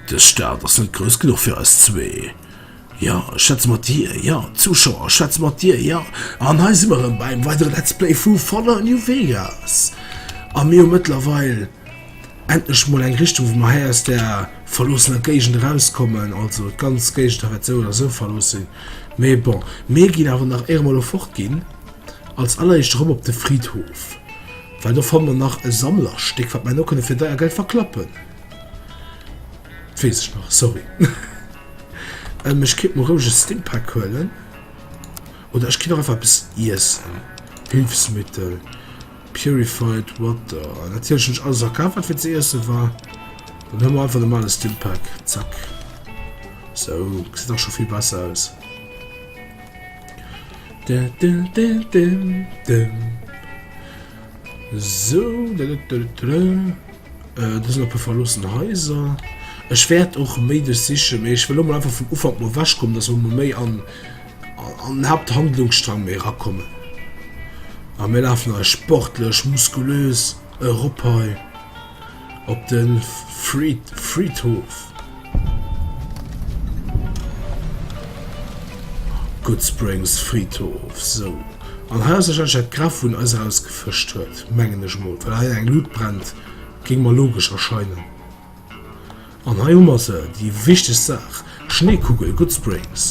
Dës Stad ass net grouss genuch fir eis zwee. Jo, ech schwätze mat dir. Jo, Zuschauer, ech schwätze mat dir. Jo, an hei si mer erëm beim weidere Let's Play vu Fallout New Vegas. A mir hu mëttlerweil... Endlech mol eng Richtung wou mer hei aus der verloossener Géigend eraus kommen, also d'ganz Géigend hei wäert sou oder sou verlooss sinn, mee bon mir ginn awer nach éier mer elo fort ginn als alleréischt erëm op de Fridhof, well do fanne mer nach e Sammlerstéck wat mer elo kënne fir deier Geld verklappen, dat weess ech nach, sorry. Ech kéint mer roueg e Stimpack huelen oder ech kéint och einfach eppes iessen, Hülfsmittel, Purified Water. An natierlech hunn ech alles akaf, wat fir ze iesse war. Dann huele mer einfach de normale Stimpack. Zack. Sou, gesäit dach scho vill besser aus. Dim, dim, dim, dim, dim. Sou. Do sinn e puer verloossen Haiser. Ech wäert och méi duerch sichen, mee ech wëll lo mol einfach vum Ufank mol ewechkommen, dass mer mol méi an an den Haapthandlungsstrang méi erakommen. A mir lafen eis sportlech, muskulös erop hei op de Fried Friedhof. Goodsprings Friedhof sou an hei ass wahrscheinlech dat Graf wou en eis eraus gefëscht huet mengen ech mol well hei eng Luut brennt géing mer logesch erscheinen an hei hu mer se déi wichtegst Saach Schneekugel Goodsprings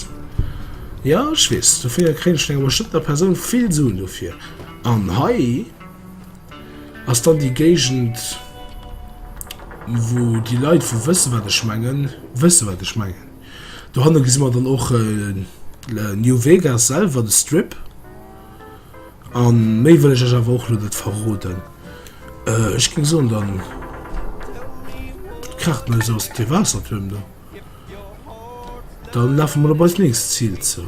jo ech weess dofir kréien ech vun enger bestëmmter Persoun vill Suen dofir an hei Ass dann déi Géigend, wou déi Leit vu wësse wat ech mengen, wësse wat ech mengen. Dohanne gesi mer dann och New Vegas selwer, de Strip. A méi wëll ech iech awer och lo net verroden. Ech géing soen, dann kraacht mer eis aus de Waassertuerm do. Dann lafe mer op eist nächst Zil zou.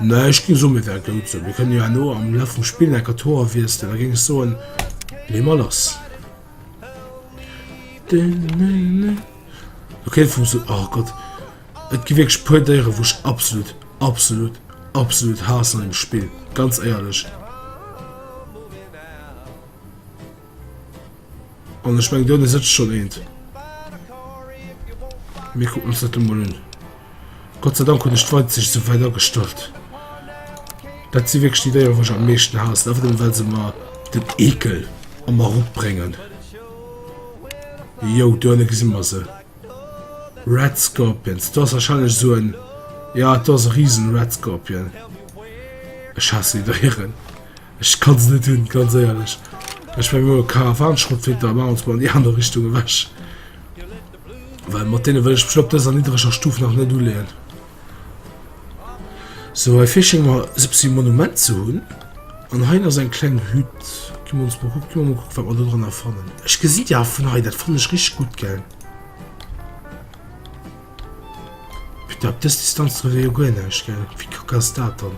Mä ech géing soen, mir ware goud esou. Mir kënnen jo herno am Laf vum Spill enker d'Hoer wiesselen. Da géing ech soen, lee mer lass. Lo kéint vum soen, oh Gott, et gi wierklech puer Déieren, wou ech absolut, absolut, absolut haassen an deem Spill, ganz éierlech. An ech meng do de sëtzt schonn eent. Mir kucken ons dat emol un. Gott sei Dank hunn ech d'Weitsicht sou wäit agestallt. Dat si wierklech déi Déieren, wou ech am meeschten haassen, einfach nëmme well se mer den Eekel a mer eropbréngen. Jo, do ënne gesi mer se. Red Scorpions do ass wahrscheinlech sou en ja et ass e riesen Red Scorpion. Ech hasse déi Déieren. Ech kann se net hunn, ganz éierlech. Ech war elo e Karawanschrottflinte a maachen ons mol an déi aner Richtung ewech, well mat deene wëll ech mech op dëser niddreger Stuf nach net uleeën. Sou hei fir schéng mer se bessen Monument ze hun an hei ass eng kleng Hütt gi mer ons mol kucken gi mer mol kucken wat mer do dranner fannen. Ech gesin déi awer vun hei dat fannen ech richteg gutt gell. Putain op dës Distanz trëfft ee jo guer näischt gell wéi kack ass dat dann.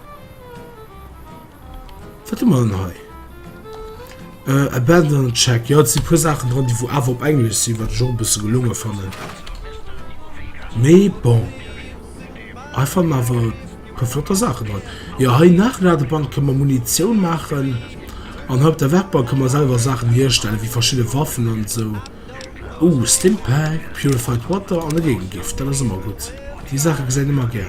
Wat hu mer dann hei? Äh, abandon check. Jo, et si puer Saachen dran, déi wou awer op Englesch sinn, wat ech och e bësse gelonge fannen. Mee bon. Hei fanne mer awer e puer flotter Saachen dran. Jo, hei nach eng Ladebank, kënne mer Munitioun maachen. An hei op der Werkbank kënne mer selwer Saachen hierstellen, wéi verschidde Waffen an esou. Ouh, Stimpack, purified water an e Géigegift. Dat ass ëmmer gutt. Déi Saache gesäit ee mer gär.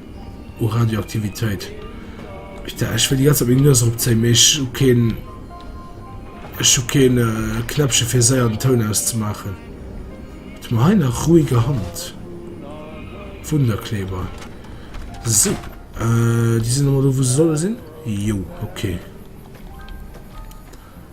u Radioaktivitéit. Ech da, ech wëll déi ganze Zäit meng Nues erop zéien, mee ech hu keen, ech hu keen Knäppche fir séier den Toun auszemaachen. Wat hu mer hei nach? Ruhiger Hand, Wunderkleber. Sou, déi sinn emol do, wou se solle sinn. Jo, okay.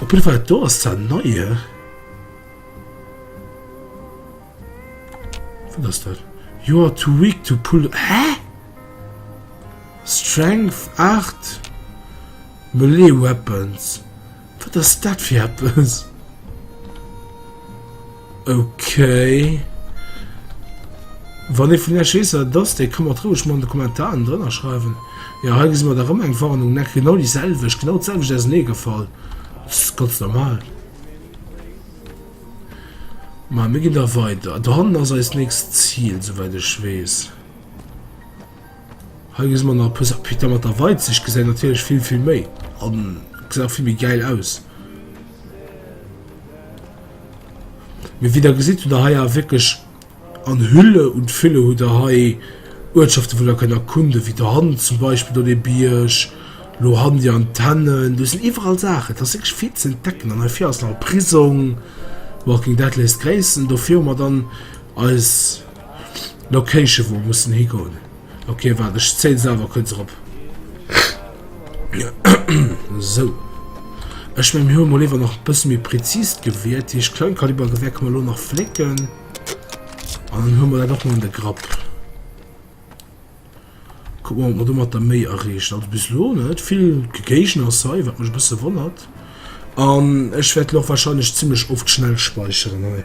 Op jidde Fall do ass dat Neie. Wat ass dat? You are too weak to pull... Hä? Strength 8? Melee Weapons? Wat ass dat fir eppes? Ok. Wann ee vun iech weess wat et ass, dee ka mer et roueg mol an de Kommentaren drënner schreiwen. Jo, hei gesi mer da rëm eng Warnung, nec, genau déi selwecht, genau d'selwecht ausenee gefall. S, Ganz normal. Ma mir ginn da weider. Do hannen ass eist nächst Zil, souwäit ech weess. Hei gesi mer nach e puer Sa, Putain, mat der Weitsicht gesäit natierlech vill, vill méi an gesäit och vill méi gäil aus. Mee wéi der gesitt, hutt der hei awer wierklech an Hülle und Fülle hutt der hei Uertschaften, wou der kënnt erkunden, wéi dohannen zum Beispill do dee Bierg, elo hannen déi Antennen, do sinn iwwerall Saachen, et ass wierklech vill ze entdecken. An heivir ass nach e Prisong, Walking Dead léisst gréissen, dofir hu mer dann eis Location, wou mer mussen higoen. Okay, warte, ich zähle selber kurz erop. so. Ich meine, wir haben mal lieber noch ein bisschen mehr präzis gewählt. Die Kleinkalibergewehr können wir nur noch flicken. Und dann haben wir das auch mal in der Grapp. Gucken wir mal, ob wir damit der May erreicht. Also bis lo nicht. Viel Gegner sei, was mich ein bisschen wundert. Und ich werde auch wahrscheinlich ziemlich oft schnell speichern. Hey.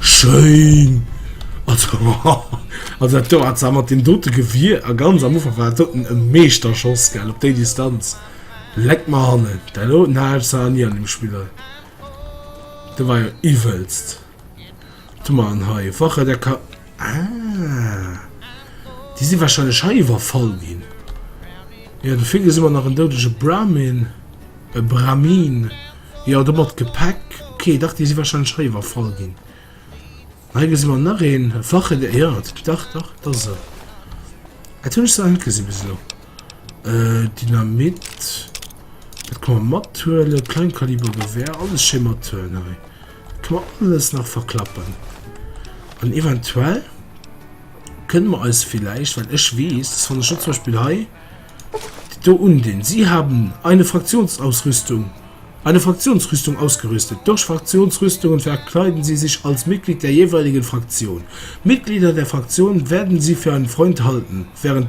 Schéin! Also dat do hat se mat deem dote Gewier, a ganz am Ufank war dat doten e Meeschterschoss, gell, op déi Distanz. Leck mer hannen, dat doten hat ech nach ni an deem Spill. Dat war jo iwwelst. Tun mer an hei Wache der Ka ah. Déi si wahrscheinlech hei iwwerfall ginn. Ja, du fir gesinn mer nach en doudege Brahmin. E Brahmin. Ja, do mat Gepäck. Okay, dach, déi si wahrscheinlech hei iwwerfall ginn. Hei gesinn mer nach een. Wache der... Ja, dach, dach, dat ass e. Dat hunn ech zwar net gesinn bis elo. Äh, Dynamit. Dat kann mer mathuelen. Kleinkalibergewehr. Alles schee mathuelen hei. Do alles nach verklappen an eventuell kënne mer eis vielleicht, well ech weess, dass wann ech zum Beispiel hei dit do undinn, Sie haben eine Fraktionsausrüstung, eine Fraktionsrüstung ausgerüstet. Durch Fraktionsrüstungen verkleiden Sie sich als Mitglied der jeweiligen Fraktion. Mitglieder der Fraktion werden Sie für einen Freund halten, während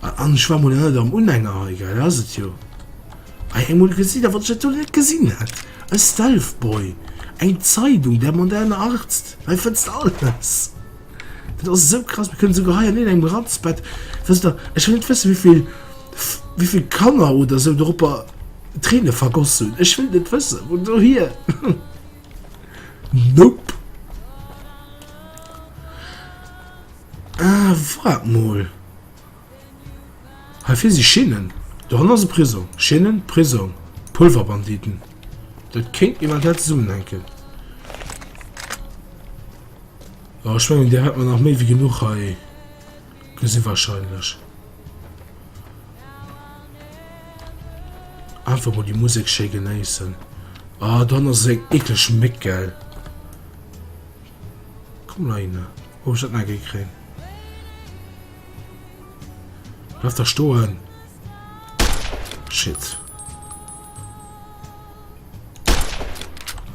An ech war mol net am Unhänger hei, gell? Dat ass et jo. Hei eng mol gesinn, a wat ech natierlech net gesinn hat, e Stealthboy, eng Zeidung, der moderne Arzt. Hei fënns de alles. Dat ass esou krass. Mir kënnen esouguer hei an iergendengem Ratzbett, wësst Der, ech wëll net wëssen, wéi vill, wéi vill Kanner oder esou doropper Tréine vergoss hunn. Ech wëll et net wëssen. Vun dohier. Nope. Ah, waart mol. Heifir si Schinnen. Doran ass e Prisong. Schinnen, Prisong, Pulverbanditen. Dat kéint eventuell zesummenhänken. Awer ech mengen, Dir hätt mer nach méi wéi genuch hei gesi warscheinlech. Einfach mol déi Musek schéi genéissen. Ah, dann ass eng eklech Méck, gell? Komm la hinne. Wou hun ech dat nach gi kréien? Bleif da stoen! Shit!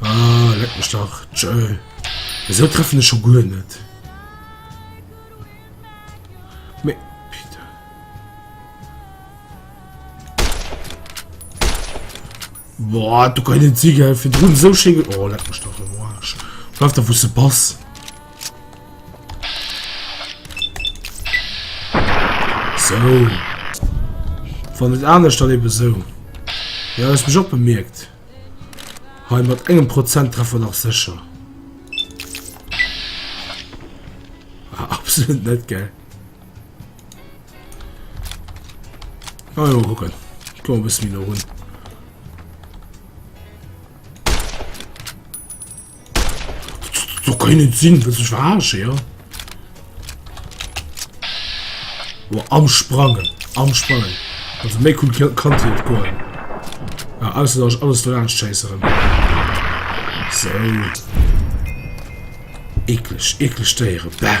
Aah, leck mech dach! Tjööll! Wéisou treffen ech scho guer net? Boah, du kann net si gell, virdrun esou schéin ge. Oh leck mech dach am Arsch! Bleif da wou s de bass! So. Wann et anescht dann eben so. Ja, hues mech och bemerkt. Hei mat engem Prozent Treffer nach sécher. Ah, absolut net geil. Ah, ja, gucken. Komm ein bisschen wieder runter. So kann net sinn, wëlls ech verarschen, ja? Boah, am Sprangen, am Sprangen. Also méi cool kann es net goen. Ja, ausser dass ich alles verarschen chasseren. So. Eklig, eklig Déiere, bäh.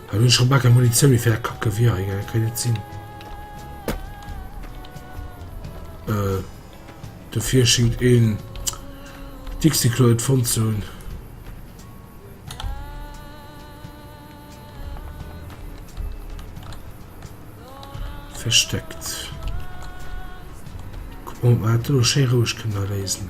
Hei hun ech schon baal keng Munitioun méi fir aer Kackgewier, hei gell, kéint net sin. Dofir schingt een Dixiklo net fonnt ze hun. Versteckt. Kuck mol op mer dat do schéi roueg kënnen erléisen.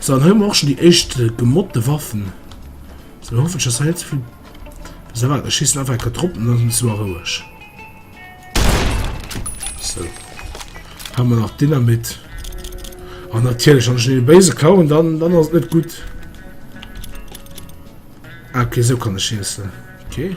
So an hun mer och schon déi éischt gemodde Waffen. So lo hoffen ech dass hei net souvill. So waart ech schiessen einfach enker drop an dann hun ech se mol roueg. So ha mer nach Dynamit. An natierlech an den Béise klauen dann dann ass net gutt. Ah, okay, so kann ech schiessen. Okay.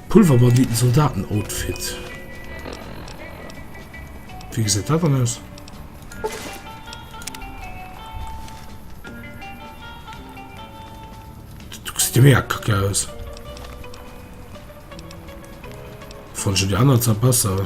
Pulverbanditen Soldaten Outfit. Wéi gesäit dat dann aus? Du gesäit jo mega kacke aus. Fand schon die anderen zwar besser.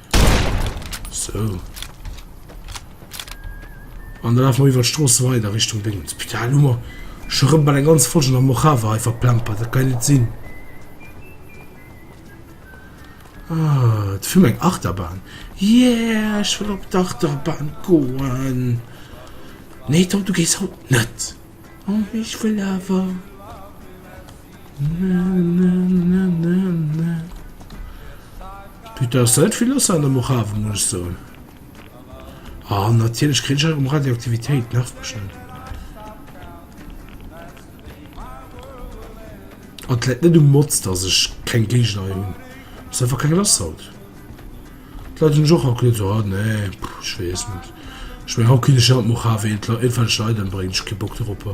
So. An dann laufen wir über die Straße weiter Richtung Ding. Spital Nummer. Schon rum bei der ganzen Folge noch Mojave einfach plempert. Das kann nicht sein. Ah, das für meine Achterbahn. Yeah, ich will auf die Achterbahn gehen. Nee, Tom, du gehst heute nicht. Oh, ich will aber. Putain, ass dat vill lass an der Mojave, muss ech soen. Ah, natierlech kritt ech erëm Radioaktivitéit, nervt mech net. An et läit net um Mod, dass ech keng Géigner hei hunn, ass einfach keng lass haut. D'Leit hunn ech och haut gesot, ah nee, ech weess net, ech mengen haut kritt ech ëmmer d'Mojave, eent, eent wat ech Leit ëmbréngen, ech hu kee Bock dorop.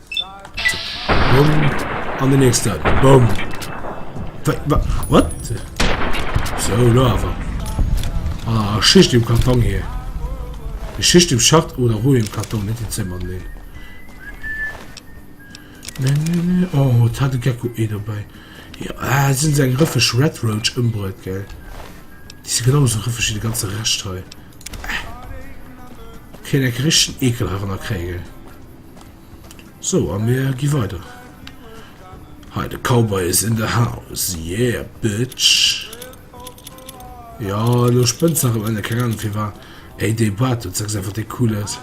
An den nächsten. Boom. What? So, Lava. Ah, Schicht im Karton hier. Die Schicht im Schacht oder Ruhe im Karton, nicht im Zimmer, nee. Nee, nee, nee. Oh, da hat ein Gecko eh dabei. Ja, ah, sind sie ein Riffisch Red Roach umbrot, gell? Die sind genauso Riffisch wie die ganze Rest hier. Äh. Keine Christen ekelhaft kriegen. Sou a mir gi weider hei. De Cowboy is in the house yeah bitch. Jo elo spënns nach emënne keng Ahnung firwat ey dee Bart do zechs einfach dee cool aus.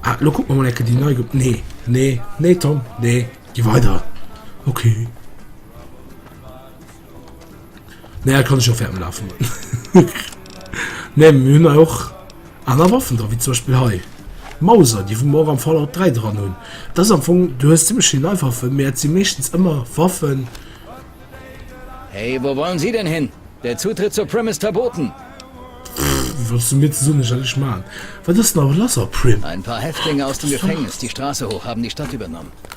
Ah elo kuck mer mol enke déi nei ge nee nee nee Tom nee gi weider ok. Ne kann ech ferm lafen Ne myn och aner waffen da wie zum Beispiel hei Mauser die vu mor am Fall op 3 dran hunn da am Fong du hues ziemlich schi nei waffe Mä sie mechtens ëmmer waffen. Hey, wou wollen Sie denn hin? Der Zutritt zur Prim ist verboten! Pff, wëlls du mir ze soen, ech hätt lech man? Wat ass nach lass a Prim? Ein paar Häftlinge aus dem Gefängnis die Straße hoch haben die Stadt übernommen.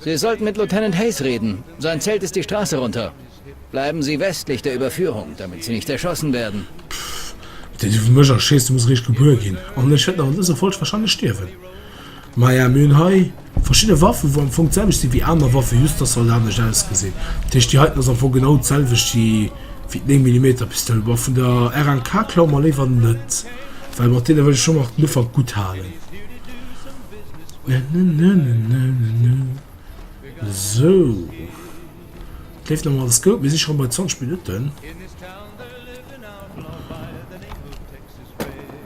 Sie sollten mit Lieutenant Hayes reden. Sein Zelt ist die Straße runter. Bleiben Sie westlich der Überführung, damit Sie nicht erschossen werden. Pff, deen iwwer mech erschéisst, muss eréischt gebuer ginn. An ech wäert nach an dëser Folg wahrscheinlech stierwen. Maja, mir hunn hei verschidde Waffen, wou am Fong d'selwecht sinn wéi aner Waffen, just dass se alt anescht ausgesinn. Dat heescht, déi heiten ass am Fong genau d'selwecht wéi déi 9 Millimeter Pistoul, ma vun der RNK klaue mer léiwer net, well mat deene wëll ech scho nach den Ufank gutt halen. Sou, et leeft nach alles goud. Mir si schonn bei 20 Minutten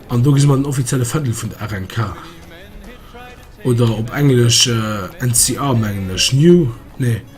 an do gesi mer den offizielle Fändel vun der RNK, oder op englesch NCR mengen ech, New, nee.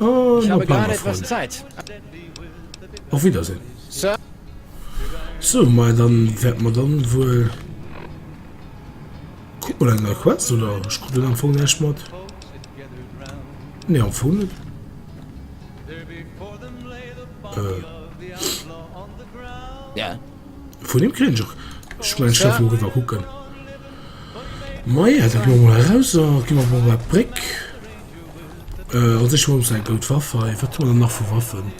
Ech habe grad etwas Zeit. Auf Wiedersehen. Sir. So, mei dann wäert mer dann wuel kuck mal eng nei Quest oder ech krut am Fong näischt mat. Nee, am Fong net. Äh. Yeah. Vun him kréien ech och ech mengen ech därf emol riwwer kucken mei dat ginn mer mol eraus a gi mer mol bei d'Bréck euh an sech mol säi goud Waff hei wat hu mer dann nach vu Waffen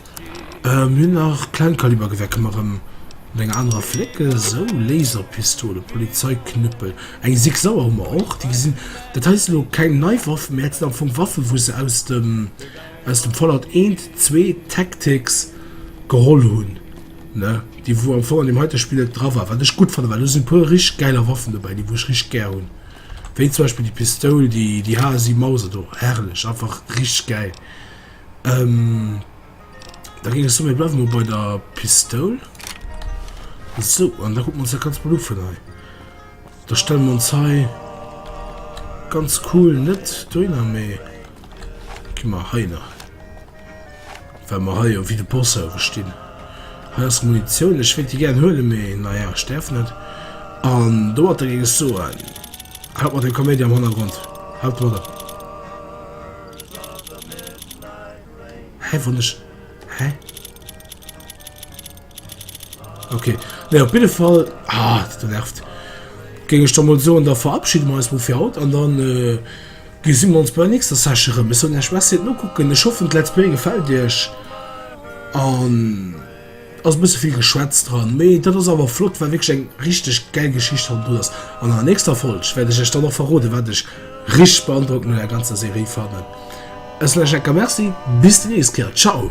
euh mir hunn nach Kleinkalibergewehr kënne mer erëm mat enger anerer flécke sou Laserpistole Polizeiknüppel eng Sig Sauer hu mer och déi gesinn dat hei si lo keng nei Waffen mä dat sinn am Fong Waffen wou se aus dem aus dem Fallout eent zwee Tactics geholl hunn. ne, déi wou am Fong an deem heite Spill net dra war, wat ech gutt fannen, well do sinn e puer richteg gäiler Waffen dobäi, déi wou ech richteg gär hunn, wéi zum Beispill déi Pistoul, déi déi HSI Mauser do, herrlech, einfach richteg gäil. Da géing ech soen, mir bleiwe mol bei der Pistoul. Sou, an da kucke mer ons dat Ganzt mol u vun hei. Da stelle mer ons hei ganz cool, net dohinner, mee. Gi mer hei nach. Well mer hei jo wie de Boss hei gestinn. Hei ass Munitioun. Ech wéilt déi gären huelen, mee naja, ech däerf net. An domatter géing ech soen, haut mat dem Kaméidi am Hannergrond. Haut domatter. Hä, wann ech. Hä? Okay. Ne op bidde Fall ah, du nervt. Geng ech da mal so an der verabschiede me eis fir haut an dann äh, gesinn ons bei nächster Sachere bis hun ech was no kucken ech hoffen let's play gefällt Dich an ass bis viel geschwätz dran méi dat ass awer flott war wg eng richtig gell Geschicht han du ass an der nächster Folsch werde ech ech dann noch verrode wat ech rich beandruck no der ganzer Serie fannen. Ech soe Jacques merci, bis déi nächst Kéier, ciao!